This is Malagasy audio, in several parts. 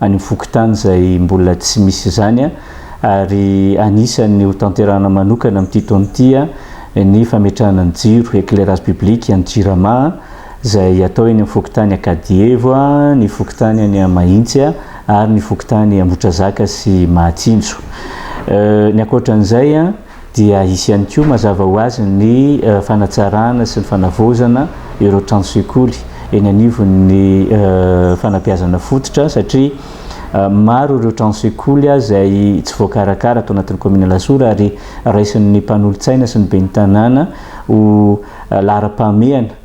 any amin'ny fokontany izay mbola tsy misy izany ary anisan'ny hotanterahana manokana amin'ity taona ity ny fametrahana ny jiro, éclairage public, any Jirama izay hatao eny amin'ny fokontany Ankadievo, ny fokontany any Mahitsy ary ny fokontany Ambotrazaka sy Mahatsinjo. Ny ankoatran'izay, dia hisy ihany koa mazava ho azy ny fanatsarana sy ny fanavaozana ireo tranosekoly eny anivon'ny fanabeazana fototra satria maro ireo tranosekoly izay tsy voakarakara ato anatin'ny kaominina Alasora ary raisin'ny mpanolotsaina sy ny ben'ny tanàna ho laharam-pahamehana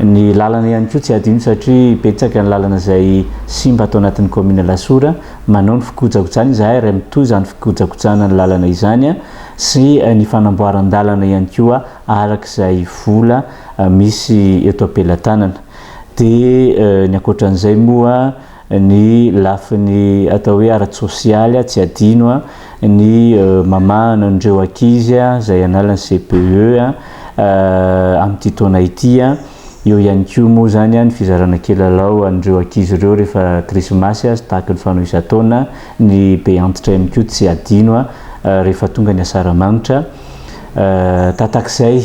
Ny lalana ihany koa tsy hadino satria betsaka ny lalana izay simba ato anatin'ny kaominina Alasora. Manao ny fikojakojana izahay ary mitohy izany fikojakojana ny lalana izany sy ny fanamboaran-dalana ihany koa araka izay vola misy eto am-pelatanana. Dia ny ankoatra an'izay moa. Ny lafiny atao hoe ara-tsosialy, tsy adino ny mamahana an'ireo ankizy izay hanala ny CPE amin'ity taona ity. Eo ihany koa moa izany ny fizarana kilalao an'ireo ankizy ireo rehefa krismasy sy tahaky ny fanao isan-taona. Ny be antitra ihany koa tsy adino rehefa tonga ny asaramanitra. Tatak'izay.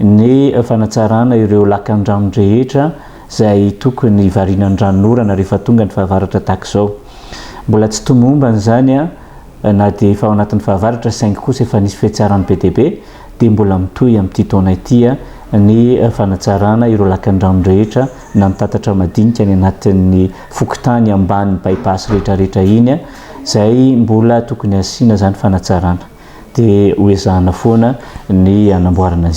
ny fanatsarana ireo lakandrano rehetra izay tokony variana ranonorana rehefa tonga ny fahavaratra tahaka izao. Mbola tsy tomombana izany na dia efa ao anatin'ny fahavaratra saingy kosa efa nisy fihatsarany be dia be dia mbola mitohy amin'ity taona ity ny fanatsarana ireo lakandrano rehetra na ny tatatra madinika any anatin'ny fokontany ambany bypass rehetrarehetra iny izay mbola tokony hasiana izany fanatsarana dia ho ezahana foana ny hanamboarana izany.